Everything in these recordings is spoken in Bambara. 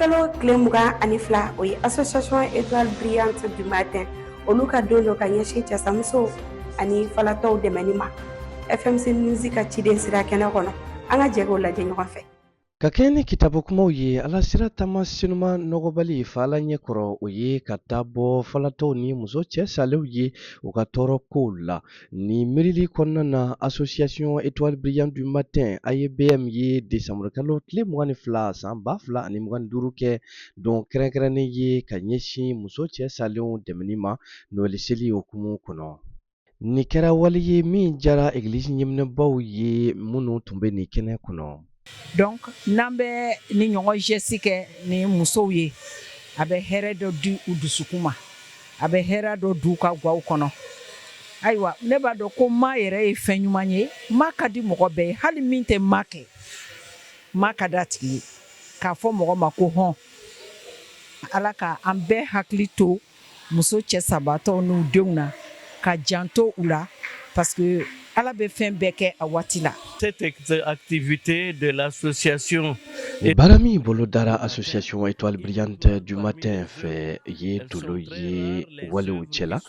kalo tile mugan ani fila o ye association étoile brillante du matin olu ka don don ka ɲɛsin cɛsamusow ani falatɔw dɛmɛni ma fmc musique ka ciden sera kɛnɛ kɔnɔ an ka jɛ k'o lajɛ ɲɔgɔn fɛ Ka kɛɲɛ ni kitabu kumaw ye ala sira taama senuma nɔgɔbali fa ala ɲɛ kɔrɔ o ye ka taa bɔ falatɔw ni muso cɛ salenw ye u ka tɔɔrɔ kow la nin miirili kɔnɔna na association étoile brillante du matin AEBM ye desanburukalo tile mugan ni fila san ba fila ani mugan ni duuru kɛ don kɛrɛnkɛrɛnnen ye ka ɲɛsin muso cɛ salenw dɛmɛni ma Noɛli seli hukumu kɔnɔ Nin kɛra wali ye min diyara egilisi ɲɛminɛbaw ye minnu tun bɛ nin kɛnɛ kɔnɔ donc n'an bɛ nin ɲɔgɔn geste kɛ ni musow ye a bɛ hɛrɛ dɔ di u dusukun ma a bɛ hɛrɛ dɔ di u ka gaw kɔnɔ ayiwa ne b'a dɔn ko maa yɛrɛ ye fɛn ɲuman ye maa ka di mɔgɔ bɛɛ ye hali min tɛ maa kɛ maa ka d'a tigi ye k'a fɔ mɔgɔ ma ko hɔn ala k' an bɛɛ hakili to muso cɛ sabatɔw n'u denw na k'a janto u la parce que ala bɛ fɛn bɛɛ kɛ a waati la cette activité de l'association baara min bolodara association étoile brillante du matin fɛ ye dolo ye walew cɛ la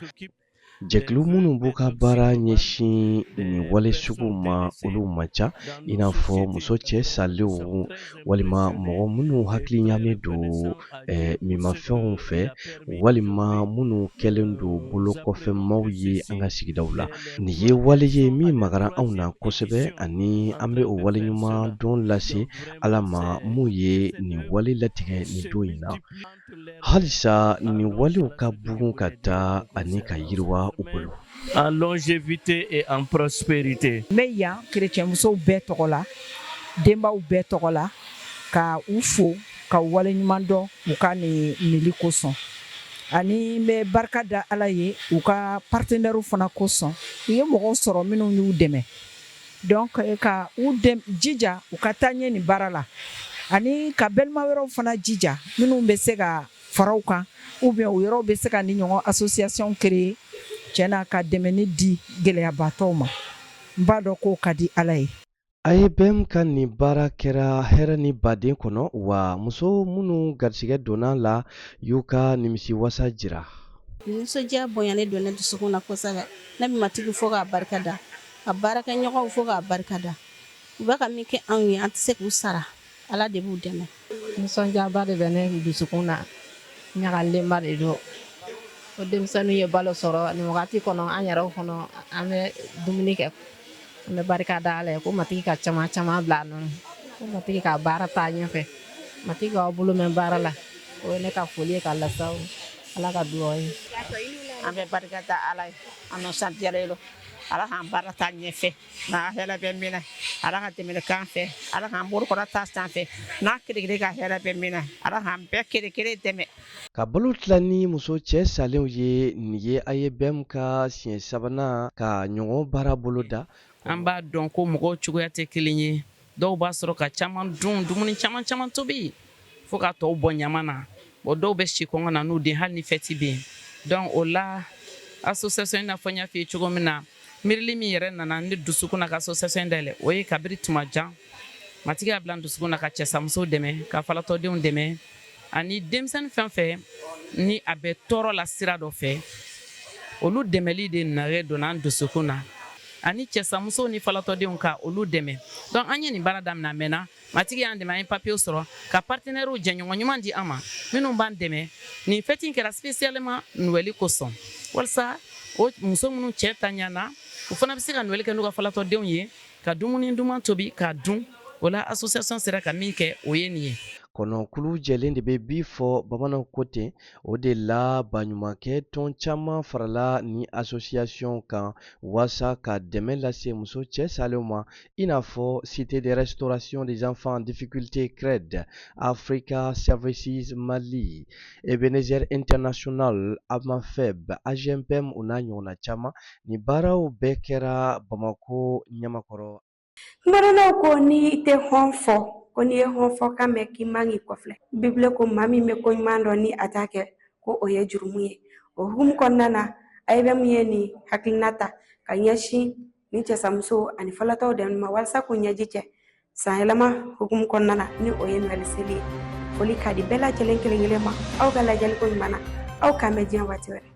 Jɛkulu minnu b'u ka baara ɲɛsin nin wale sugu ma olu man ca i n'a fɔ muso cɛ salenw walima mɔgɔ minnu hakili ɲaami don minmafɛnw fɛ walima minnu kɛlen don bolo kɔfɛ maaw ye an ka sigidaw la nin ye wale ye min magara anw na kosɛbɛ ani an bɛ o waleɲumandɔn lase ala ma min ye nin wale latigɛ nin don in na halisa nin walew ka bugun ka taa ani ka yiriwa u bolo en longévité et en prospérité. N bɛ yan kerecɛnmusow bɛɛ tɔgɔ la denbaw bɛɛ tɔgɔ la ka u fo ka u waleɲuman dɔn u ka nin nili kosɔn ani n bɛ barika da Ala ye u ka partenaires fana kosɔn u ye mɔgɔw sɔrɔ minnu y'u dɛmɛ Donc ka u jija u ka taa ɲɛ nin baara la ani ka balima wɛrɛw fana jija minnu bɛ se ka fara u kan ou bien u yɛrɛw bɛ se ka nin ɲɔgɔn association créer cɛn na ka dɛmɛni di gɛlɛyabaatɔw ma n b'a dɔn k'o ka di ala ye AEBM ka nin baara kɛra hɛrɛ ni baden kɔnɔ wa muso minnu garisigɛ donna a la y'u ka nimisiwasa jira nisɔndiya bonyalen don ne dusukun na kosɛbɛ ne bɛ matigi fo k'a barika da ka baarakɛɲɔgɔnw fo k'a barika da u bɛ ka min kɛ anw ye an tɛ se k'u sara ala de b'u dɛmɛ nisɔndiyaba de bɛ ne dusukun na ɲagalenba de don ko denmisɛnninw ye balo sɔrɔ nin wagati kɔnɔ an yɛrɛ kɔnɔ an bɛ dumuni kɛ an bɛ barika da ala ye ko matigi ka caman caman bila nɔ ko matigi ka baara taa ɲɛfɛ matigi k'aw bolo mɛn baara la o ye ne ka foli ye ka lase aw la ka dugawu ye an bɛ barika da ala ye an nisɔndiyara ala k'an baara taa ɲɛfɛ n'a hɛrɛ bɛ min na ala ka dɛmɛ k'an fɛ ala k'an bolo kɔrɔta sanfɛ n'an kelen kelen ka hɛrɛ bɛ min na ala k'an bɛɛ kelen kelen dɛmɛ ka balo tila ni muso cɛ salenw ye nin ye AEBM ka siɲɛ sabanan ka ɲɔgɔn baara boloda an b'a dɔn ko mɔgɔw cogoya tɛ kelen ye Dɔw b'a sɔrɔ ka caman dun dumuni caman caman tobi fo ka tɔw bɔn ɲaman na o dɔw bɛ si kɔngɔ na n'u den hali ni fɛti bɛ yen donc o la asosiyasɔn in n'a fɔ n y'a f'i ye cogo min na miirili min yɛrɛ nana ne dusukun na ka asosiyasɔn dayɛlɛ o ye kabiri tuma jan matigi y'a bila n dusukun na ka cɛsamuso dɛmɛ ka falatɔdenw dɛmɛ ani denmisɛnnin fɛn fɛn ni a bɛ tɔɔrɔ la sira dɔ fɛ olu dɛmɛli de nare donna an dusukun na ani cɛsamuso ni falatɔdenw ka olu dɛmɛ donc an ye nin baara daminɛ a mɛnna matigi y'an dɛmɛ an ye papiyew sɔrɔ ka partenɛriw jɛɲɔgɔn ɲuman di an ma minnu b'an dɛmɛ nin fɛti kɛra spécialement nuwɛli kosɔn walisa o muso minnu cɛ ntanyana u fana bɛ se ka nuwɛli kɛ n'u ka falatɔdenw ye ka dumuni duman tobi k'a dun o la asosiyasɔn sera ka min kɛ o ye nin ye kɔnɔkulu jɛlen de bɛ bii fɔ bamananw ko ten o de la baɲumankɛ tɔn caman farala nin asosiyasɔn kan waasa ka dɛmɛ lase muso cɛ salenw ma i n'a fɔ cité de restauration des enfants en difficulté CRED africa services mali ebenezer international AMAFEB AGMPM o n'a ɲɔgɔnna caman nin baaraw bɛɛ kɛra bamako ɲamakɔrɔ Kumadɔnnaw ko n'i tɛ hɔn fɔ ko n'i ye hɔn fɔ kan mɛn k'i man k'i kɔfilɛ bibulu ko maa min bɛ ko ɲuman dɔn ni a t'a kɛ ko o ye jurumu ye o hukumu kɔnɔna na AEBM ye nin hakilina ta ka ɲɛsin nin cɛsamuso ani falatɔw dɛmɛ ma walasa k'u ɲɛji cɛ san yɛlɛma hukumu kɔnɔna na ni o ye nɔɛli seli ye foli ka di bɛɛ lajɛlen kelen kelen ma aw ka lajɛliko ɲuman na aw k'an bɛn diɲɛ waati wɛrɛ